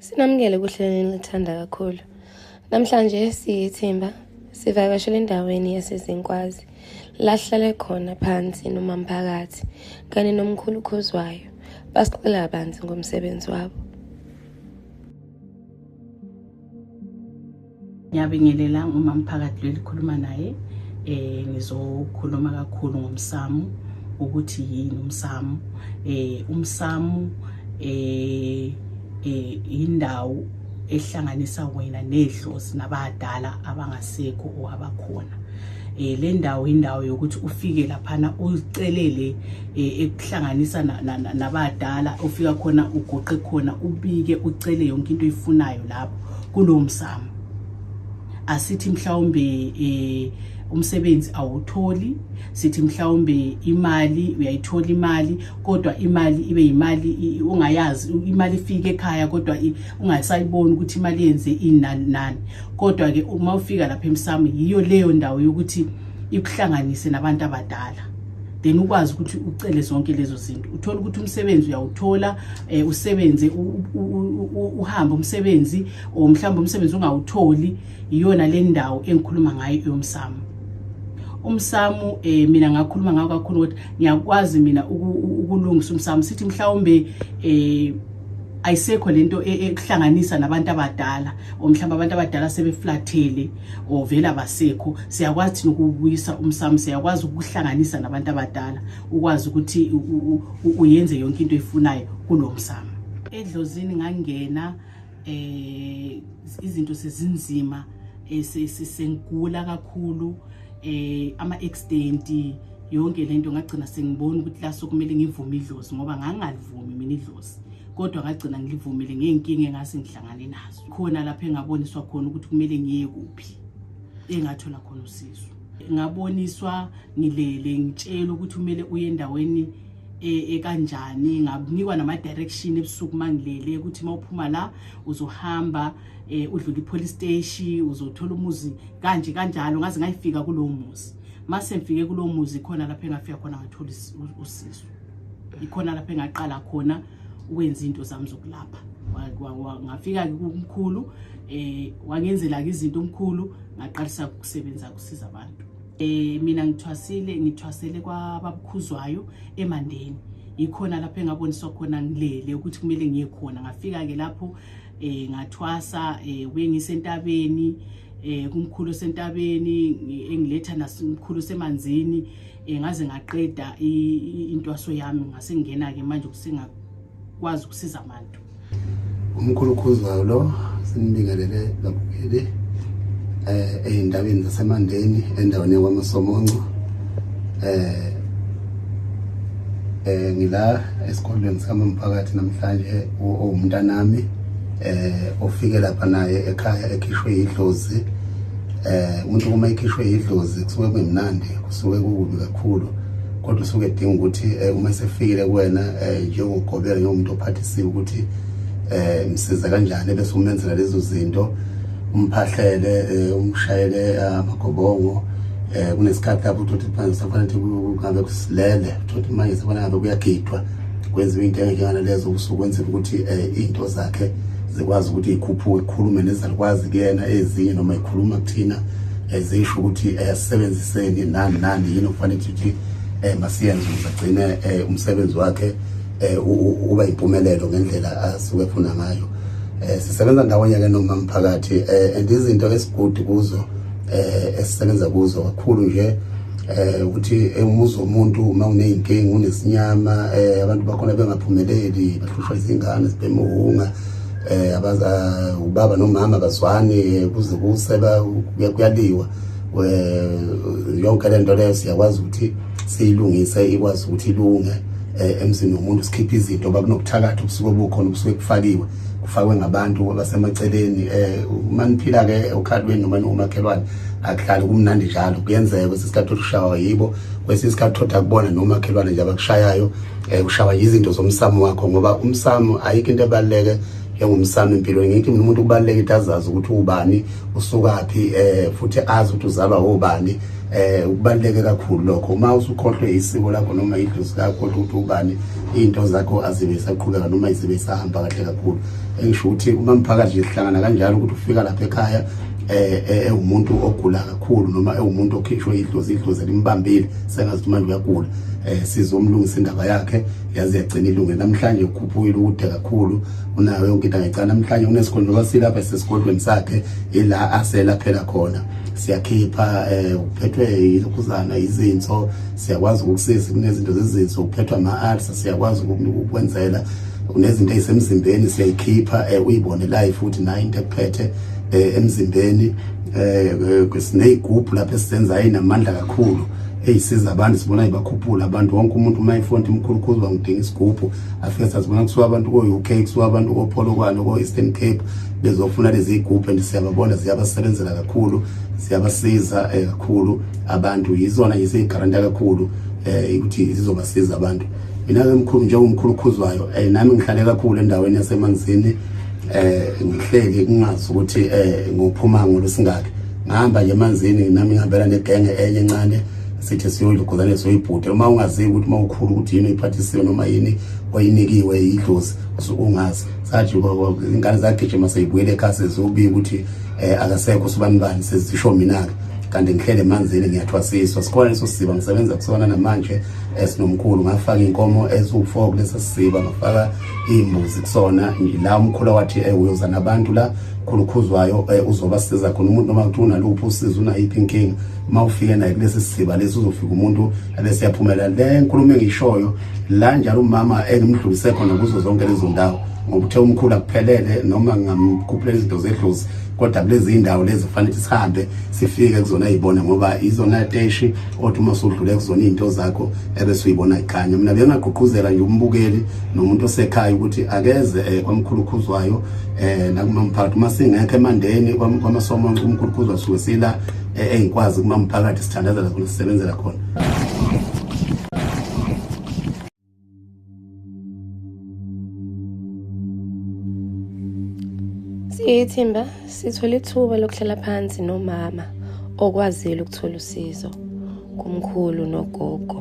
Sinamukele kuhlelweni lithanda kakhulu. Namhlanje siyithimba sivakashele endaweni yasezinkwazi lahlale khona phansi nomamphakathi kanye nomkhulu khuzwayo basixela kabanzi ngomsebenzi wabo. ngiyabingelela nguma mphakathi lelikhuluma naye eh ngizokhuluma kakhulu ngomsamu ukuthi yini umsamu eh umsamu eh, eh indawo ehlanganisa wena nedlozi nabadala abangasekho o abakhona eh le ndawo indawo yokuthi ufike laphana ucelele eh, ekuhlanganisa nabadala ufika khona ugoqe khona ubike ucele yonke into oyifunayo lapho kulowo msamo asithi mhlawumbe eh umsebenzi awutholi sithi mhlawumbe imali uyayithola imali kodwa imali ibe yimali ungayazi imali ifike ekhaya kodwa ungasayiboni ukuthi imali yenze inani nani kodwa ke uma ufika lapha emsamo yiyo leyo ndawo yokuthi ikuhlanganise nabantu abadala then ukwazi ukuthi ucele zonke lezo zinto uthola ukuthi umsebenzi uyawuthola eh, usebenze uhambe umsebenzi or mhlawumbe umsebenzi ungawutholi iyona le ndawo engikhuluma ngayo yomsamo umsamo eh mina ngakhuluma ngawo kakhulu ukuthi ngiyakwazi mina ukulungisa umsamo sithi mhlawumbe eh ayisekho lento e, ekuhlanganisa nabantu abadala omhlawumbe abantu abadala sebeflathele ovele abasekho siyakwazi thina ukubuyisa umsamo siyakwazi ukuhlanganisa nabantu abadala ukwazi ukuthi uyenze yonke into efunayo kulo msamo edlozini ngangena eh izinto sezinzima eh, sengigula kakhulu eh ama extent yonke lento ngagcina sengibona ukuthi laso kumele ngivume idlozi ngoba ngangalivumi mina idlozi kodwa ngagcina ngilivumile ngeenkinga engase ngihlangane nazo khona lapho engaboniswa khona ukuthi kumele ngiye kuphi engathola khona usizo ngaboniswa ngilele ngitshela ukuthi kumele uye endaweni e, ekanjani nganikwa nama-direction ebusuku uma ngilele ukuthi uma uphuma la uzohamba um udlula i-police steshi uzothola umuzi kanje kanjalo ngaze ngayifika kulowo muzi mase ngifike kulowo muzi khona lapho engafika khona ngathola usizo ikhona lapho engaqala khona wenza into zami zokulapha ngafika kumkhulu um eh, wangenzela-ke izinto omkhulu ngaqalisa ukusebenza kusiza abantu Eh mina ngithwasile ngithwasele kwababukhuzwayo eMandeni. Yikhona lapho engaboniswa khona ngilele ukuthi kumele ngiye khona. Ngafika ke lapho eh ngathwasa eh wengisentabeni eh kumkhulu sentabeni engiletha nasimkhulu semanzini um ngaze ngaqeda intwaso yami ngase ngingena-ke manje ukusengakwazi ukusiza abantu umkhulu khuzwayo lo sinibingelele babukeli eh eyindabeni zasemandeni endaweni yakwaMasomonco eh eh ngila esikolweni sikamphakathi namhlanje uwumntanami eh ofike lapha naye ekhaya ekhishwe idlozi eh umuntu uma ikhishwe idlozi kusuke kumnandi kusuke kukubi kakhulu kodwa usuke edinga ukuthi eh, uma sefikile kuwena eh, njengogobela njengomuntu ophathisiwe ukuthi eh msiza kanjani bese umenzela lezo zinto umphahlele eh, umshayele ah, amagobongo eh kunesikhathi lapho uthi manje safanele ukuthi kungabe kusilele uthi manje safanele ngabe kuyagidwa kwenziwa into engekana lezo kusuke kwenzela ukuthi eh, into zakhe zikwazi ukuthi ikhuphuke ikhulume nezalukwazi kuyena ezinye noma ikhuluma kuthina ezisho eh, ukuthi eh, asebenziseni nani nani yini okufanele ukuthi masiyenze ukuze agcine umsebenzi wakhe uba impumelelo ngendlela asuke efuna ngayo sisebenza ndawonye ke nomamphakathi and izinto esigudu kuzo eh esisebenza kuzo kakhulu nje eh ukuthi umuzi womuntu uma kuneyinkinga unesinyama eh abantu bakhona bengaphumeleli bahlushwa izingane zibemhunga eh abaza eh, ubaba nomama bazwani eh, kuze kuseba kuyaliwa eh, yonke lento leyo siyakwazi ukuthi siyilungise ikwazi ukuthi ilunge emzini womuntu sikhiphe izinto bakunokuthakatha ubusuku obukhona ubusuku ekufakiwe ufakwe ngabantu abasemaceleni eh uma niphila ke okhalweni noma umakhelwane akuhlali kumnandi njalo kuyenzeka kwesinye isikhathi ushawa yibo kwesinye isikhathi thoda kubona nomakhelwane nje abakushayayo eh ushawa yizinto zomsamo wakho ngoba umsamo ayikho into ebaluleke engumsamo empilweni ngithi mina umuntu kubaluleka into azazi ukuthi ubani usukaphi eh futhi azi ukuthi uzalwa obani eh kubaluleke kakhulu lokho uma usukhohlwe isiko lakho noma idlozi lakho ukuthi ubani into zakho azibe isaqhubeka noma izibe isahamba kahle kakhulu engisho ukuthi uma mphakathi sihlangana kanjalo ukuthi ufika lapha ekhaya eh, eh, ewumuntu ogula kakhulu noma ewumuntu okhishwe idlozi idlozi limbambile sengazi ukuthi manje uyagula eh, sizomlungisa indaba yakhe yazi yagcina ilunge namhlanje ukhuphukile ukude kakhulu unayo yonke into angecala namhlanje kunesikhondlo kwasilapha sesigodlweni sakhe ila asela phela khona siyakhipha eh uphethwe yilokhuzana izinso siyakwazi ukukusiza kunezinto zezinso ukuphethwa ama-arts siyakwazi ukukwenzela unezinto ezisemzimbeni siyayikhipha eh, uyibone live futhi nayo into ekuphethe eh, emzimbeni eh, sineyigubhu lapho esizenzayo inamandla kakhulu eyisiza abantu sibona ibakhuphula abantu wonke umuntu uma ifonti imkhulukhulu bangidinga isigubhu afike sazibona kusuka abantu ko-uk kusuka abantu kopholokwane ko-eastern cape bezofuna lezi yigubhu and siyababona ziyabasebenzela kakhulu ziyabasiza kakhulu abantu yizona yiseyigaranta kakhulu eh ukuthi zizobasiza abantu mina ke mkhulu nje umkhulu khuzwayo eh nami ngihlale kakhulu endaweni yasemanzini eh ngihleki kungazi ukuthi eh ngophuma ngolusingakhe ngihamba nje emanzini nami ngihambela negenge enye encane sithi siyoyigozane soyibhude uma ungazi ukuthi uma ukhulu ukuthi yini oyiphathisiwe noma yini oyinikiwe idlozi usuke ungazi sathi ingane zagijima seyibuyele ekhaya sezobika ukuthi eh akasekho sibanibani sezisho mina ke kanti ngihlele emanzini ngiyathwasiswa sikhona leso siziba ngisebenza kusona namanje esinomkhulu ngafaka inkomo eziwu-4 kulesa siziba ngafaka iy'mbuzi kusona la umkhulu wathi um uyoza nabantu la khulukhuzwayo um uzobasiza khona umuntu noma kuthi unaluphi usiza unayiphi inkinga uma ufike naye kulesi siziba lesi uzofika umuntu abese yaphumela le nkulumo engiyishoyo la njalo umama engimdlulise khona kuzo zonke lezo ndawo ngoba uthe umkhulu akuphelele noma ngingamkhuphuleni izinto zedlozi kodwa kulezi indawo lezi kufanele ukuthi sihambe sifike kuzona yibona ngoba izona teshi othi uma usudlule kuzona izinto zakho ebese uyibona ikhanya mina bengagqugquzela nje umbukeli nomuntu osekhaya ukuthi akeze eh, kwamkhulu khuzwayo eh nakumamphakathi uma singekho emandeni kwamasomo umkhulu khuzwa suke sila eh, engikwazi kumamphakathi sithandazela khona sisebenzela khona Siyithimba sithole ithuba lokuhlala phansi nomama okwazile ukuthola usizo kumkhulu nogogo.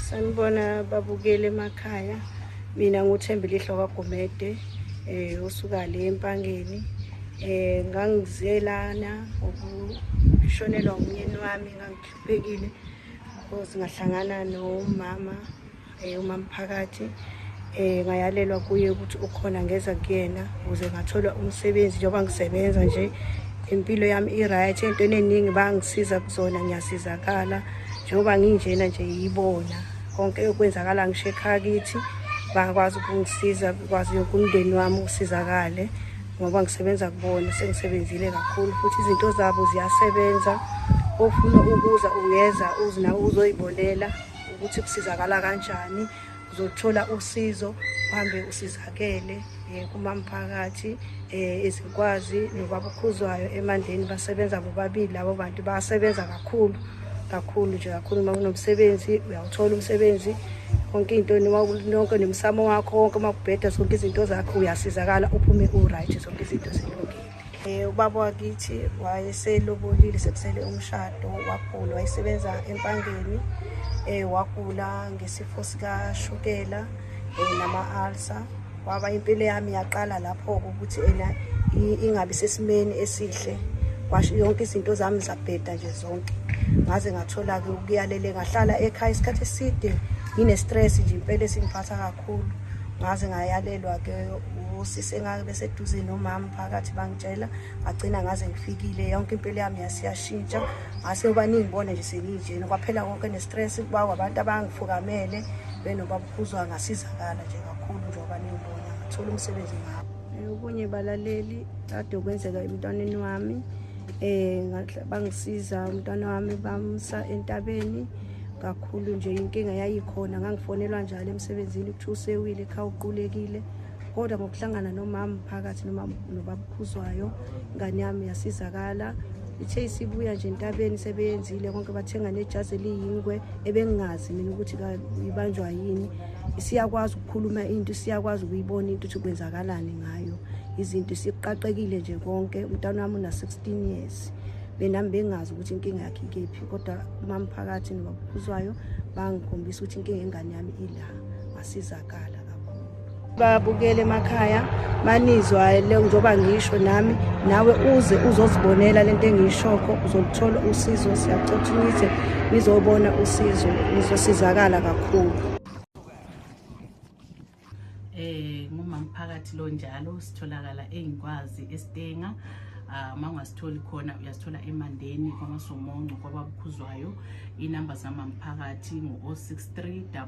Sanibona babukele emakhaya. Mina nguthembile ihlo kaGumede eh usuka le empangeni eh ngangizelana ukushonelwa umyeni wami ngangi Bhekile ngoba singahlangana nomama eh umama phakathi eh ngayalelwa kuye ukuthi ukhona ngeza kuyena ukuze ngathola umsebenzi njengoba ngisebenza nje impilo yami i-right entweni eningi bangisiza kuzona ngiyasizakala njengoba nginjena nje yibona konke okwenzakala ngisho ekhaya kithi bakwazi ukungisiza kwazi yoke umndeni wami usizakale ngoba ngisebenza kubona sengisebenzile kakhulu futhi izinto zabo ziyasebenza ofuna ukuza ungeza uzina uzoyibonela ukuthi kusizakala kanjani uzothola usizo uhambe usizakele um kumamphakathi um ezikwazi nobaba ukhuzwayo emandleni basebenza bobabili labo bantu basebenza kakhulu kakhulu nje kakhulu uma kunomsebenzi uyawuthola umsebenzi konke into nonke nomsamo wakho wonke uma kubheda zonke izinto zakho uyasizakala uphume u-right zonke izinto zilungile um eh, ubaba wakithi wayeselobolile sekusele umshado wagula wayesebenza empangeni um wagula ngesifo sikashukela um eh, nama-alsa waba impilo yami yaqala lapho-ke ukuthi ena ingabi sesimeni esihle kwasho yonke izinto zami zabheda nje zonke ngaze ngathola-ke ukuyalele ngahlala ekhaya isikhathi eside ngine-stress nje impela esingiphatha kakhulu ngaze ngayalelwa-ke usisi engake beseduze nomama phakathi bangitshela ngagcina ngaze ngifikile yonke impilo yami yasiyashintsha ngase uba ningibone nje senginjena kwaphela konke ne-stress kuba kwabantu abangifukamele benobaba uzwa angasizakala nje kakhulu njengoba nimbona angathola umsebenzi ngabo okunye balaleli kade okwenzeka emntwaneni wami um bangisiza umntwana wami bamsa entabeni kakhulu nje inkinga yayikhona ngangifonelwa njalo emsebenzini kuthiwa usewile ekhaya uqulekile kodwa ngokuhlangana nomama phakathi nomama nobabukhuzwayo ingane yami yasizakala ithe isibuya nje entabeni sebeyenzile konke bathenga nejazi eliyingwe ebengingazi mina ukuthi ibanjwa yini siyakwazi ukukhuluma into siyakwazi ukuyibona into ukuthi kwenzakalani ngayo izinto siqaqekile nje konke umntana wami una-16 years benami bengazi ukuthi inkinga yakhe ikephi kodwa umamphakathi nobabukhuzwayo bangikhombisa ukuthi inkinga engane yami ila ngasizakala babukele emakhaya banizwa njengoba ngisho nami nawe uze uzozibonela lento engiyishokho uzoluthola usizo siyacotha ukuthi nizobona usizo nizosizakala kakhulu eh ngumamphakathi lo njalo sitholakala engikwazi eStenga Ah, uma ungasitholi khona uyasithola emandeni kwamasomonco kwababukhuzwayo inamba zamamphakathi ngo-063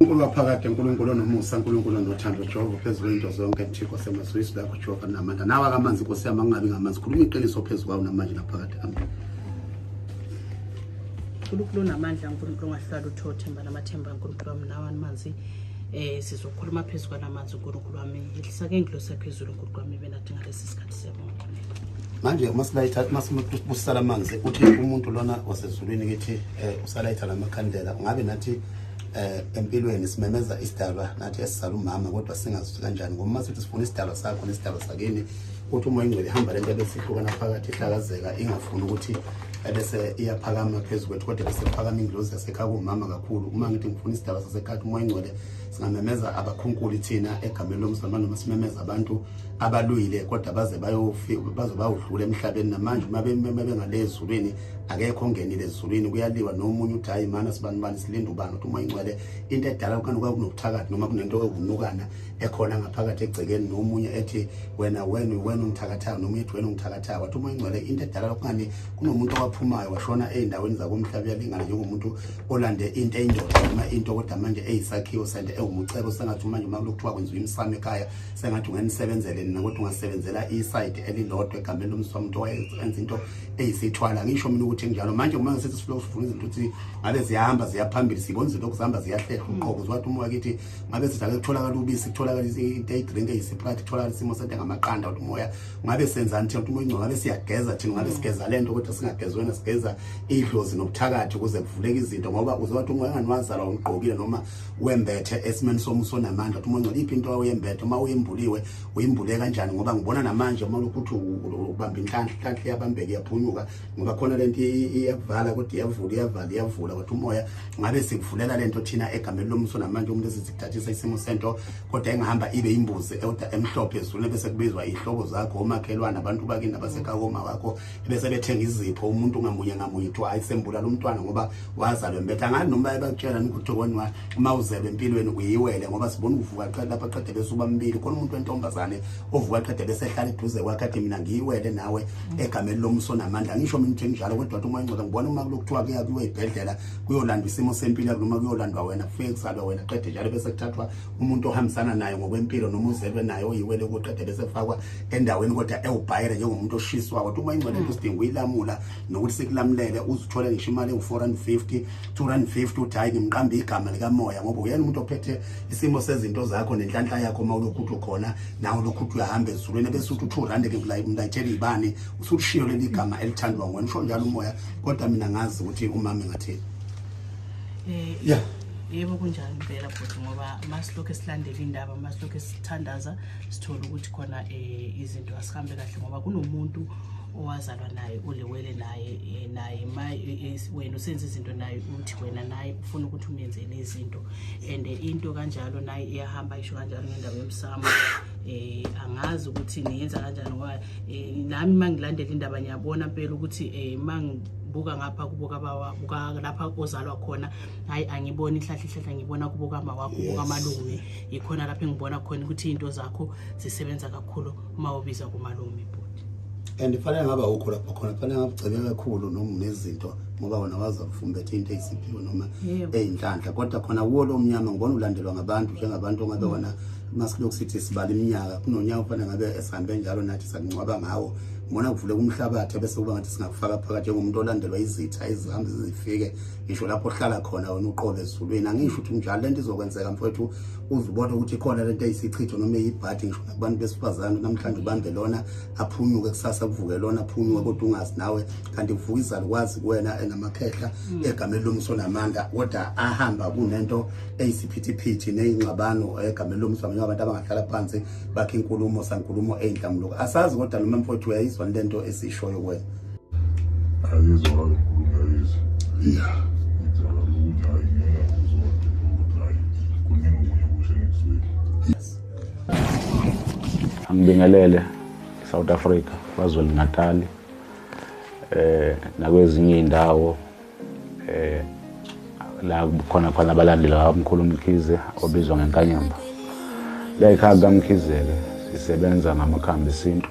uNkulunkulu waphakade uNkulunkulu onomusa uNkulunkulu onothando Jehova phezulu into zonke Thixo semazwisi lakho Jehova namandla nawa kamanzi Nkosi yami angabi ngamanzi khuluma iqiniso phezulu kwawo namanje naphakade amen uNkulunkulu onamandla uNkulunkulu ongahlala uthothemba namathemba uNkulunkulu wami nawa amanzi eh sizokhuluma phezulu kwalamanzi uNkulunkulu wami ehlisa ke ngilo sephezulu uNkulunkulu wami benathi ngalesi sikhathi siyabonga manje uma silayitha uma sibusisa lamanzi uthi umuntu lona wasezulwini kithi eh usalayitha lamakhandela ngabe nathi eh empilweni simemeza isidalwa nathi esizala umama kodwa singazi kanjani ngoba uma sithi sifuna isidalwa sakho nesidalwa sakini uthi uma ingcwele ihamba lento ebesihlukana phakathi ihlakazeka ingafuni ukuthi ebese iyaphakama phezu kwethu kodwa bese kuphakama ingilozi yasekhaya kuwumama kakhulu uma ngithi ngifuna isidalwa sasekhaya umoya ingcwele singamemeza abakhunkuli thina egameni lomzalwane noma simemeza abantu abaluyile kodwa baze bayofi baze bayodlula emhlabeni namanje uma bengale ezulwini akekho ongenile ezulwini kuyaliwa nomunye uthi hayi mana sibani bani silinde ubani ukuthi uma ingcwele into edala ukani kwaku nokuthakathi noma kunento ewunukana ekhona ngaphakathi egcekeni nomunye ethi wena wena wena ungithakathayo nomunye ethi wena ungithakathayo wathi uma ingcwele into edala ukani kunomuntu owaphumayo washona ezindaweni zakomhlaba uyalingana njengomuntu olande into eyindoda noma into kodwa manje eyisakhiwo sente ewumucebo sengathi manje uma kulokuthiwa kwenziwa imsamo ekhaya sengathi ungenisebenzele nina kodwa ungasebenzela isayidi elilodwa egameni lomswa umuntu owayenza into eyi sithwala ngisho mina ukuthi njalo manje uma ngisithi siloku sifuna izinto ukuthi ngabe ziyahamba ziyaphambili sibona izinto okuzihamba ziyahlehla hmm. uqobo ziwathi uma wakithi ngabe sizake kutholakala ubisi kutholakala into eyidrink eyisiphakathi kutholakala isimo sento engamaqanda ukuthi umoya ngabe senzani thina ukuthi umoya ingcono ngabe siyageza thina ngabe hmm. sigeza le nto kodwa singagezi wena sigeza idlozi nobuthakathi ukuze kuvuleke izinto ngoba uze wathi umoya enganiwazala ungigqokile noma wembethe esimeni somuso onamandla ukuthi umoya ingcono iphi into oyembethe uma uyembuliwe uyimbule kanjani ngoba ngibona namanje uma lokuthi ubamba inhlanhla inhlanhla iyabambeka iyaphunyuka ngoba khona lento iyavala kodwa iyavula iyavala iyavula kodwa umoya ngabe sikuvulela lento thina egameni lomso namanje umuntu esizithathisa isimo sento kodwa engahamba ibe imbuzi elder emhlophe ezulule bese kubizwa ihlobo zakho omakhelwana abantu bakini abasekakoma wakho bese bethenga izipho umuntu ngamunye ngamunye kuthiwa ayisembula lomntwana ngoba wazalwe mbetha ngani noma ebakutshela ukuthi wena uma uzebe empilweni uyiwele ngoba sibona uvuka qede lapha qede bese ubambili khona umuntu wentombazane ovuka qede bese ehlala eduze kwakhe athi mina ngiyiwele nawe egameni lomso namandla ngisho mina nje njalo kodwa uma ingcoda ngibona uma kulokuthiwa kuya kuyiwe ibhedlela kuyolandwa isimo sempilo yakho noma kuyolandwa wena kufike kusalwa wena qede njalo bese kuthathwa umuntu ohambisana naye ngokwempilo noma uzelwe naye oyiwele kuqede bese kufakwa endaweni kodwa ewubhayire njengomuntu oshiswa kodwa uma ingcoda into sidinga uyilamula nokuthi sikulamulele uzithole ngisho imali engu-450 250 uthi hayi ngimqambe igama likamoya ngoba uyena umuntu ophethe isimo sezinto zakho nenhlanhla yakho uma ulokhuthu ukhona nawe ulokhuthu uyahamba ezulwini bese uthi 2 rand ke mlayithela ibani usulishiyo leli gama elithandwa ngwe nisho njalo umoya kodwa mina ngazi ukuthi umama ngathini eh yeah yebo kunjalo impela bhuti ngoba masilokhu esilandela indaba masilokhu sithandaza sithole ukuthi khona um izinto asihambe kahle ngoba kunomuntu owazalwa naye ulewele naye eh, naye eh, eh, wena usenza izinto naye uthi wena naye ufuna ukuthi umenzele izinto and into kanjalo naye iyahamba isho kanjalo ngendaba yomsamo eh angazi ukuthi niyenza kanjani ngoba nami uma ngilandela indaba ngiyabona mpela ukuthi um ma buka ngapha kubuka bawa buka lapha ozalwa khona hayi angiboni ihlahla ihlahla ngibona kubuka mawakho buka malume yikhona lapho engibona khona ukuthi into zakho zisebenza kakhulu uma ubiza kumalume bhuti and fanele ngaba ukho lapho khona fanele ngabugcebe kakhulu noma nezinto ngoba wona waza kufumbethe into eyisiphiwo noma eyinhlanhla kodwa khona kuwo lo mnyama ngibona ulandelwa ngabantu njengabantu ongabe wona masilokhu sithi sibala iminyaka kunonyaka ufanele ngabe esihambe njalo nathi sakungcwaba ngawo ngibona kuvuleka umhlabathi bese kuba ngathi singakufaka phakathi njengomuntu olandelwa izitha ezihambe zizifike ngisho lapho ohlala khona wena uqobe ezulwini angisho ukuthi njalo lento izokwenzeka mfowethu uzubona ukuthi khona lento eyisichitho noma eyibhadi ngisho abantu besifazane namhlanje ubambe lona aphunyuke kusasa kuvuke lona aphunyuke kodwa ungazi nawe kanti kuvuka izalukwazi kuwena enamakhehla mm. egameni lomso namandla kodwa ahamba kunento eyisiphithiphithi neyingxabano egameni lomso abanye abantu abangahlala phansi bakhe inkulumo sankulumo eyinhlamuluko asazi kodwa noma mfowethu uyayizwa lento esishoyo kuwena ayizwa kakhulu ngayizwa yeah ngizala ukuthi hayi ngeke uzodwa ukuthi hayi kuningi okunye okushe nekuswini yes Angibingelele South Africa kwaZulu Natal eh nakwezinye indawo eh la khona khona abalandeli bamkhulu Mkhize obizwa ngenkanyamba. Lekhaya kaMkhize ke sisebenza ngamakhambi esintu